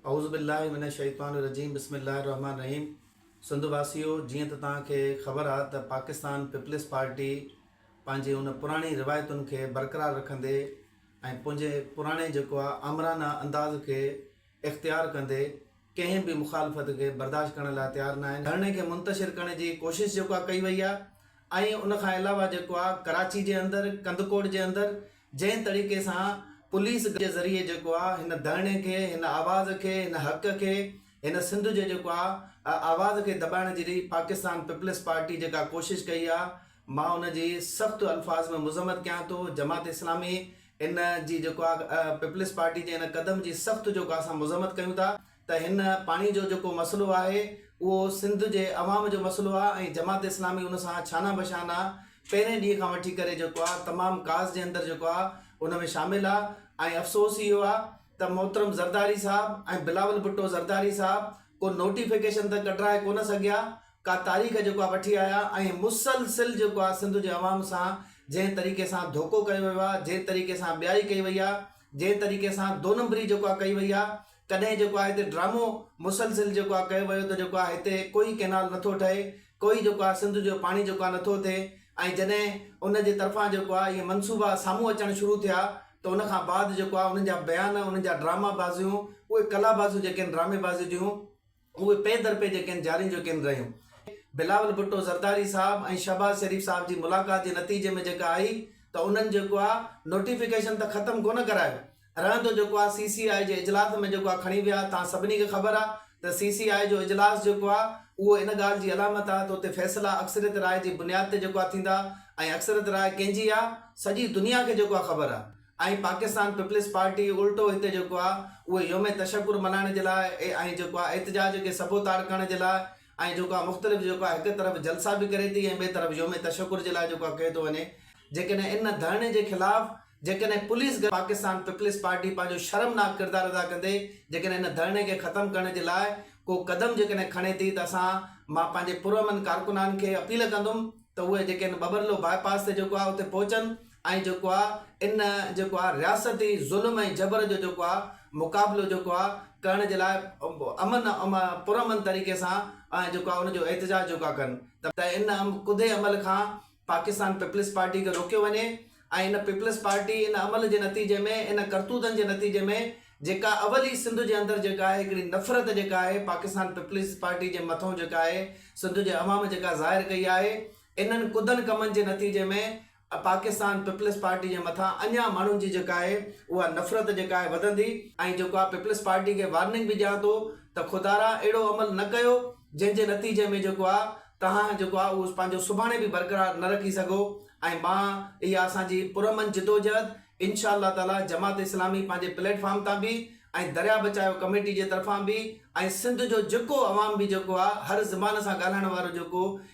اعوذ بالله من الشيطان الرجيم بسم الله الرحمٰن الرحيم سنڌ واسيو جيئن ته توهان کي خبر آ ته پاڪستان پيپلز پارٽي پنهنجي ان پراڻي روايتن کي برقرار رکندي ۽ پنهنجي پراڻي جيڪو آ آمرانه انداز کي اختيار ڪندي ڪنهن به مخالفت کي برداشت ڪرڻ لاء تيار ناهي ڌرڻي کي منتشر ڪرڻ جي ڪوشش جيڪو آ ڪئي وئي آ ۽ ان کان علاوه جيڪو آ ڪراچي جي اندر ڪنڌڪوٽ جي اندر جنهن طريقي سان پوليس جي ذريعي جيڪو آ هن ڌرڻي کي هن آواز کي هن حق کي هن سنڌ جي جيڪو آ آواز کي دٻائڻ جي پاڪستان پيپلز پارٽي جيڪا ڪوشش ڪئي آ مان ان جي سخت الفاظ ۾ مذمت ڪيان ٿو جماعت اسلامي ان جي جيڪو آ پيپلز پارٽي جي ان قدم جي سخت جيڪو آ اسان مذمت ڪيون ٿا. ته هن پاڻي جو جيڪو مسئلو آهي اهو سنڌ جي عوام جو مسئلو آهي ۽ جماعت اسلامي ان سان شانه بشانه پهرين ڏينهن کان وٺي ڪري جيڪو آهي تمام ڪاز جي اندر جيڪو آهي ان ۾ شامل آهي ۽ افسوس اهو آهي ته محترم زرداري صاحب ۽ بلاول ڀٽو زرداري صاحب ڪو نوٽيفڪيشن ته ڪڍرائي ڪونه سگهيا ڪا تاريخ جيڪو آهي وٺي آيا ۽ مسلسل جيڪو آهي سنڌ جي عوام سان جنهن طريقي سان ڌوڪو ڪيو ويو آهي جنهن طريقي سان ٻيائي ڪئي وئي آهي جنهن طريقي سان دو نمبري جيڪو آهي ڪئي وئي آهي ڪڏهن جيڪو آهي هتي ڊرامو مسلسل جيڪو آهي ڪيو ويو ته جيڪو آهي هتي ڪوئي ڪئنال نٿو ٺهي ڪوئي جيڪو آهي سنڌ جو پاڻي جيڪو آهي نٿو ٿئي ۽ جڏهن ان جي طرفان جيڪو آهي اهي منصوبا سامهون اچڻ شروع ٿيا ته ان کان بعد جيڪو آهي انهن جا بيان انهن جا ڊرامابازيون اهي ڪلابازيون جيڪي آهن ڊراميبازيون جون اهي پئي در پئي جيڪين جارين جو ڪين رهيون. بلاول ڀٽو زرداري صاحب ۽ شهباز شريف صاحب جي ملاقات جي نتيجي ۾ جيڪا آئي ته انهن جيڪو آ نوٽيفڪيشن ته ختم ڪونه ڪرايو رهندو جيڪو آ سي سي آئي جي اجلاس ۾ جيڪو آ کڻي ويا توهان سڀني کي خبر آ ته سي سي آئي جو اجلاس جيڪو آ اهو ان ڳالهه جي علامت آ ته اتي فيصلا اڪثريت راء جي بنياد تي جيڪو آ ٿيندا ۽ اڪثريت راء ڪنهن جي آ سڄي دنيا کي جيڪو آ خبر آ ۽ پاڪستان پيپلز پارٽي الٽو هتي جيڪو آهي اهو يوم تشڪر ملهائڻ جي لاء ۽ جيڪو آهي احتجاج کي سبو تاڙ ڪرڻ جي لاء ۽ جيڪو آهي مختلف جيڪو آهي هڪ طرف جلسا به ڪري ٿي ۽ ٻئي طرف يوم تشڪر جي لاء جيڪو آهي ڪيو ٿو وڃي جيڪڏهن ان ڌرڻي جي خلاف جيڪڏهن پوليس گڏ پاڪستان پيپلز پارٽي پنهنجو شرمناڪ ڪردار ادا ڪندي جيڪڏهن ان ڌرڻي کي ختم ڪرڻ جي لاء ڪو قدم جيڪڏهن کڻي ٿي ته اسان مان پنهنجي پرامن ڪارڪنان کي اپيل ڪندم ته اهي جيڪي ان ٻٻرلو باء پاس تي جيڪو آهي اتي پهچن ۽ جيڪو آ ان جيڪو آ رياستي ظلم ۽ جبر جو جيڪو آ مقابلو جيڪو آ ڪرڻ جي لاء امن پر امن طريقي سان ۽ جيڪو آ ان جو احتجاج جيڪو آ ڪن ته ان ڪڌي عمل کان پاڪستان پيپلز پارٽي کي روڪيو وڃي ۽ ان پيپلز پارٽي ان عمل جي نتيجي ۾ ان ڪرتوتن جي نتيجي ۾ جيڪا اول ئي سنڌ جي اندر جيڪا آهي هڪڙي نفرت جيڪا آهي پاڪستان پيپلز پارٽي جي مٿون جيڪا آهي سنڌ جي عوام جيڪا ظاهر ڪئي آهي انهن ڪڌن ڪمن جي نتيجي ۾ پاڪستان پيپلز پارٽي جي مٿان اڃا ماڻهن جي جيڪا آهي اها نفرت جيڪا آهي وڌندي ۽ جيڪو آهي پيپلز پارٽي کي وارننگ به ڏيان ٿو ته خدارا اهڙو عمل نه ڪيو جنهن جي نتيجي ۾ جيڪو آهي توهان جيڪو آهي اهو پنهنجو سڀاڻي به برقرار نه رکي سگهو ۽ مان اها اسان جي پرامن جدوجهد انشاء الله تعالي جماعت اسلامي پنهنجي پليٽ فارم تان به ۽ دريا بچايو ڪميٽي جي طرفان به ۽ سنڌ جو جيڪو عوام به جيڪو آهي هر زبان سان ڳالهائڻ وارو جيڪو